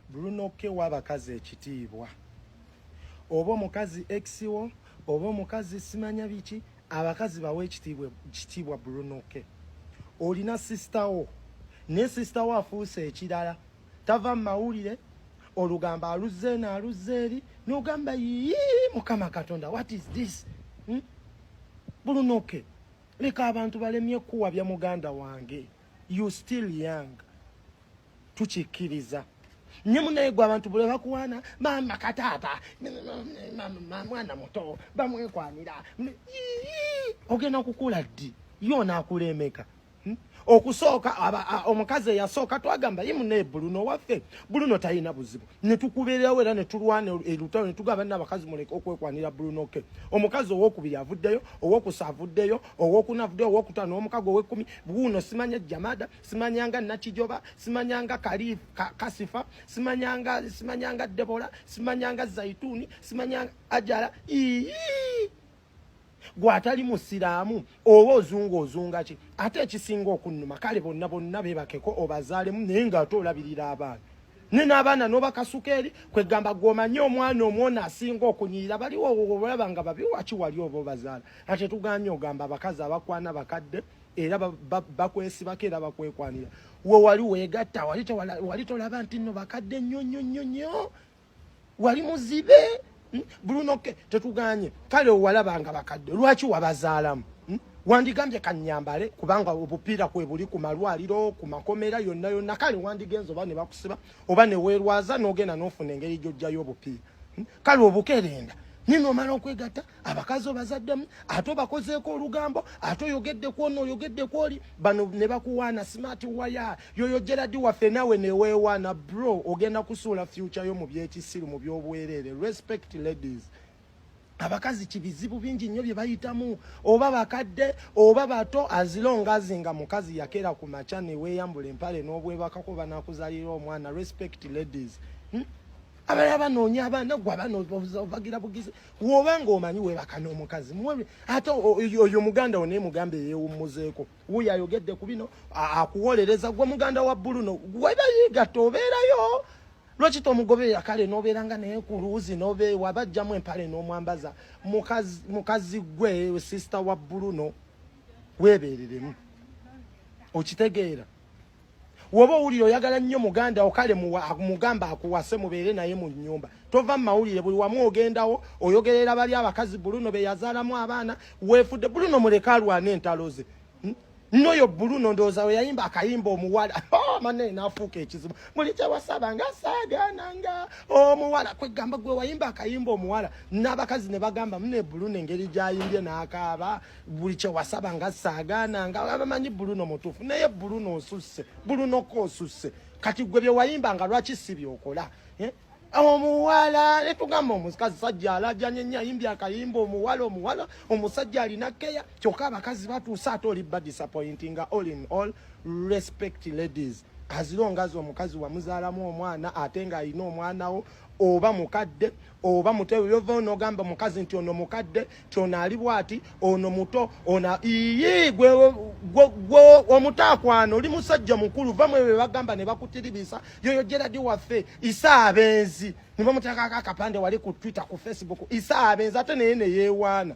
Bruno K wa abakazi ekitiibwa. Oba omukazi ex wo, oba omukazi simanya biki, abakazi bawe ekitiibwa ekitiibwa Bruno K. Olina sister wo, ne sister wo afuuse ekirala. Tava mu mawulire, olugambo aluzze eno aluzze eri, n'ogamba yii Mukama Katonda, what is this? Hmm? Bruno K. Leka abantu balemye kuwabya muganda wange. you still young tukikkiriza nye munaye gwe abantu bule bakuwaana maama kataata mwana muto bamwekwanira ogenda kukula ddi ye onaakula emeka hmm? okusooka omukazi eyasooka twagamba ye munaye buluno waffe buluno talina buzibu ne tukubeerawo era ne tulwana elutalo ne tugamba nina abakazi muleke okwekwanira brunoke omukazi owokubiri avuddeyo owokusa avuddeyo owokuna avuddeyo owokutano omukago owekumi buuno simanya jamada simanyanga nakijoba simanyanga kali ka, kasifa simanyanga simanyanga debola simanyanga zaituni simanyanga ajala ii gwe atali musiraamu oba ozunga ozunga ki ate ekisinga okunnuma kale bonna bonna bebakeko obazaalemu naye nga ate olabirira abaana ne n'abaana n'obakasuka eri kwegamba gweomanyi omwana omwona asinga okunyirira baliwo olaba nga babi waki wali oba obazaala ate tuganye ogamba abakazi abakwana bakadde era bakwesibako era bakwekwanira we wali wegatta wali tolaba nti nno bakadde nnyo nnyo nnyo nnyo wali muzibe hmm? bruno ke tetuganye kale owalabanga bakadde lwaki wabazaalamu hmm? wandigambye kanyambale kubanga obupiira kwe buli ku malwaliro ku makomera yonna yonna kale wandigenza oba ne bakusiba oba ne weerwaza n'ogenda n'ofuna engeri gy'ojjayo obupiira hmm? kale obukerenda nino omala okwegatta abakazi obazaddemu ate obakozeeko olugambo ate oyogedde kwona oyogedde kwoli bano ne bakuwaana smart waya yoyo geradi waffe nawe neweewaana bro ogenda kusuula fyuca yo mu byekisiru mu byobwereere respect ladies abakazi kibizibu bingi nnyo bye bayitamu oba bakadde oba bato azilongazi nga mukazi yakera ku makya neweeyambula empale n'obwebakako banakuzalira omwana respect ladies hmm? abalala banoonya abaana gwe abaana obagira bugizi woba ng'omanyi webaka n'omukazi ate oyo muganda wo naye mugamba eyewummuzeeko wuyo ayogedde ku bino akuwolereza gwe muganda wa buluno webayigatta obeerayo lwaki tomugoberera kale nobeera nga naye ku luuzi nobe waba ajjamu empale n'omwambaza mukazi gwe sisita wa buluno weebeereremu okitegeera woba owulira oyagala nnyo muganda okale mugamba akuwase mubeere naye mu nyumba tova mu mawulire buli wamu ogendawo oyogerera bali abakazi buluno beyazaalamu abaana weefudde buluno muleke alwana entalo ze hmm? noyo buluno ndowooza we yayimba akayimba omuwala oh, mane nafuuka ekizibu muli kyewasaba nga saagaana nga omuwala kwegamba gwe wayimba akayimba omuwala n'abakazi ne bagamba mune buluno engeri gyayimbye n'akaaba buli kyewasaba nga saagaana nga abamanyi buluno mutuufu naye buluno osusse bulunoko osusse kati gwe byewayimba nga lwaki si byokola eh? omuwala netugamba omukazi sajja alajanye nyo ayimbi akayimba omuwala omuwala omusajja alina keya kyokka abakazi batuuse ate oli ba disappointing nga all in all respect ladies azilongazi omukazi wamuzaalamu omwana ate nga alina omwanawo oba mukadde oba muto yova onogamba omukazi nti ono mukadde nti ono ali bwati ono muto ona iyi gwe omutaakwano oli musajja mukulu va mu ebyo bebagamba ne bakutiribisa yoyo geradi waffe isa abenzi ne bamuteekako akapande wali ku twitter ku facebook isa abenzi ate naye neyewaana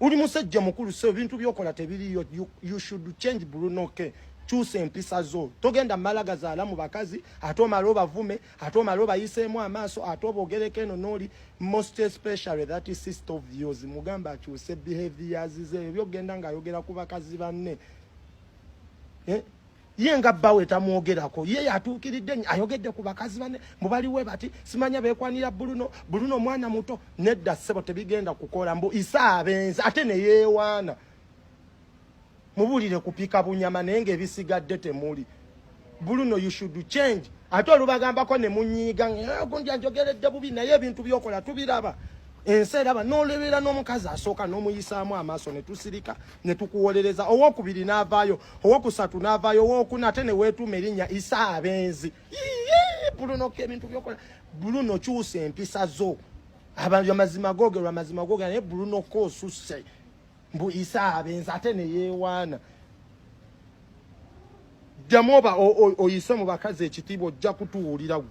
uli musajja mukulu so ebintu byokola tebiriyo you, you should change brunoke kyusa empisa zo togenda malagazaala mu bakazi ate omala obavume ate omale obayiseemu amaaso ate obogereko eno nooli most especially that sister of yours mugamba akyuse behaviors ze ebyo byogenda ng'ayogera ku bakazi banne eh? ye nga bbawe tamwogerako ye yatuukiridde nyo ayogedde ku bakazi banne mbu baliwe bati simanya beekwanira buluno buluno omwana muto nedda ssebo tebigenda kukola mbu isaabenzi ate neyeewaana mubulire kupika bunyama naye nga ebisigadde temuli buluno you should change ate olubagambako ne munyiiga eh, gundi anjogeredde bubi naye ebintu byokola tubiraba ensi eraba n'olebeera n'omukazi asooka n'omuyisaamu amaaso ne tusirika ne tukuwolereza owokubiri n'avaayo owokusatu n'avaayo owokuna ate ne weetuuma erinnya isa abenzi buluno ko ebintu byokola buluno kyusa empisa zo amazima googerwa amazima googera naye buluno ko osusse mbu isa abenzi ate neyewaana ddamu oba oyise mu bakazi ekitiibwa ojja kutuwulira gwe